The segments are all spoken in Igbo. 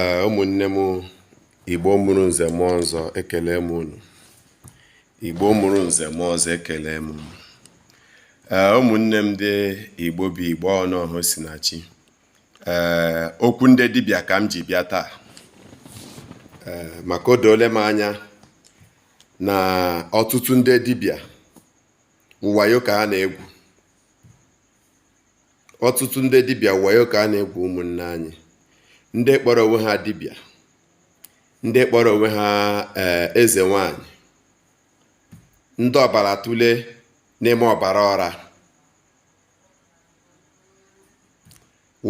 ee ụmụnne m igbo mụrụ nze mụọ ọzọ ekele m unu igbo mụrụ nze mụọ ọzọ ekele m unu ee ụmụnne m ndị igbo bụ igbo ọnụọha sinachi ee okwu ndị dibịa ka m ji bịa taa ee maka o doole m anya na ọtụtụ ndị dibịa wayo ka ha na-egwu ọtụtụ ndị dibịa wayo ka a na-egwu ụmụnne anyị ndị kpọrọ onwe ha dibịa ndị kpọrọ onwe ha eh, eze nwanyị ndị ọbara tụle n'ime ọbara ọra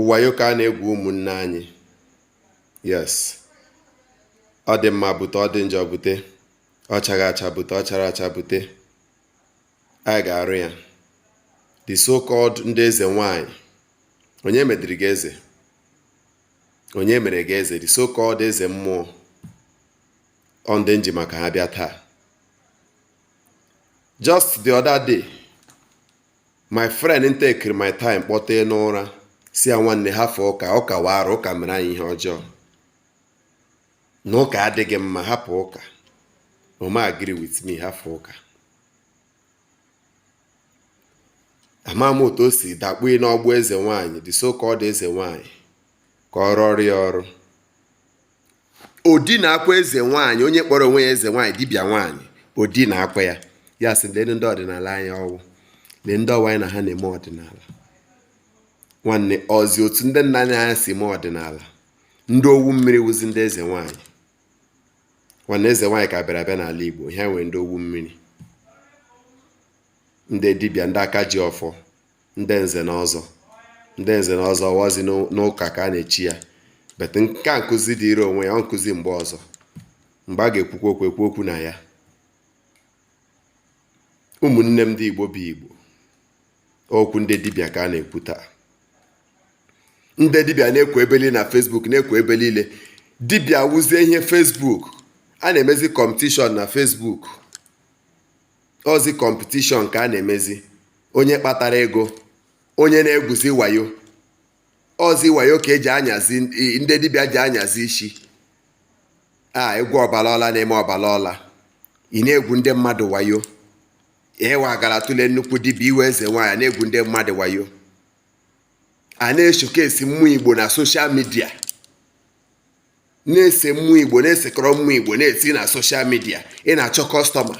wayo ka a na-egwu ụmụnne anyị yes ọ dị mma bute ọ dị njọ bute ọ chaghị acha bute ọ chara acha bute anyị ga-arụ ya the so called ndị eze nwanyị onye mediri gị eze onye mere gị eze the so called eze mmụọ ọ ndị m ji maka ha bịa taa just the other day my friend m tekiri my time kpọtee n'ụra sị ya nwanne hafụ ụka ụka wụ ara ụka mere anyị ihe ọjọọ na ụka adịghị mma hapụ ụka o mee agree with me hapụ ụka ama m otu o si dakpuo n'ọgbụ eze nwaanyị the so called eze nwaanyị ka ọ rụọrọ ya ọrụ o dinaakwa eze nwaanyị onye kpọrọ onwe ya eze nwaanyị dibịa nwaanyị o dinaakwa ya ya sị lee ndị ọdịnala anyị ọ wụ lee ndị ọ wụ anyị na ha na-eme ọdịnala nwanne ọzi otu ndị nna anyị ha si mee ọdịnala ndị owu mmiri wụzi ndị eze nwaanyị nwanne eze nwaanyị ka bịara abịa n'ala Igbo ha nwere ndị owu mmiri ndị dibịa ndị aka ji ọfọ ndị nze na ọzọ ndị nze na ọzọ ọ wụzi n'ụka ka a na-echi ya but nke a nkụzi dịịrị onwe ya ọ nkụzi mgbe ọzọ mgbe a ga-ekwukwa okwu ekwu okwu na ya ụmụnne m ndị Igbo bụ Igbo okwu ndị dibịa ka a na-ekwu taa ndị dibịa na-ekwu ebe niile na facebook na-ekwu ebe niile dibịa wụzie ihe facebook a na-emezi competition na facebook ọzi competition ka a na-emezi onye kpatara ego onye na-egwuzi wayo ọzi wayo ka e ji anyazi ndị dibịa ji anyazi isi a egwu ọbala ọla na-eme ọbala ọla ị na-egwu ndị mmadụ wayo ihe wa gara tụlee nnukwu dibịa ị wụ eze nwaanyị na-egwu ndị mmadụ wayo a na-eshokesi mmụọ igbo na social media na-ese mmụọ igbo na-esekọrọ mmụọ igbo na-esi na social media ị na-achọ customer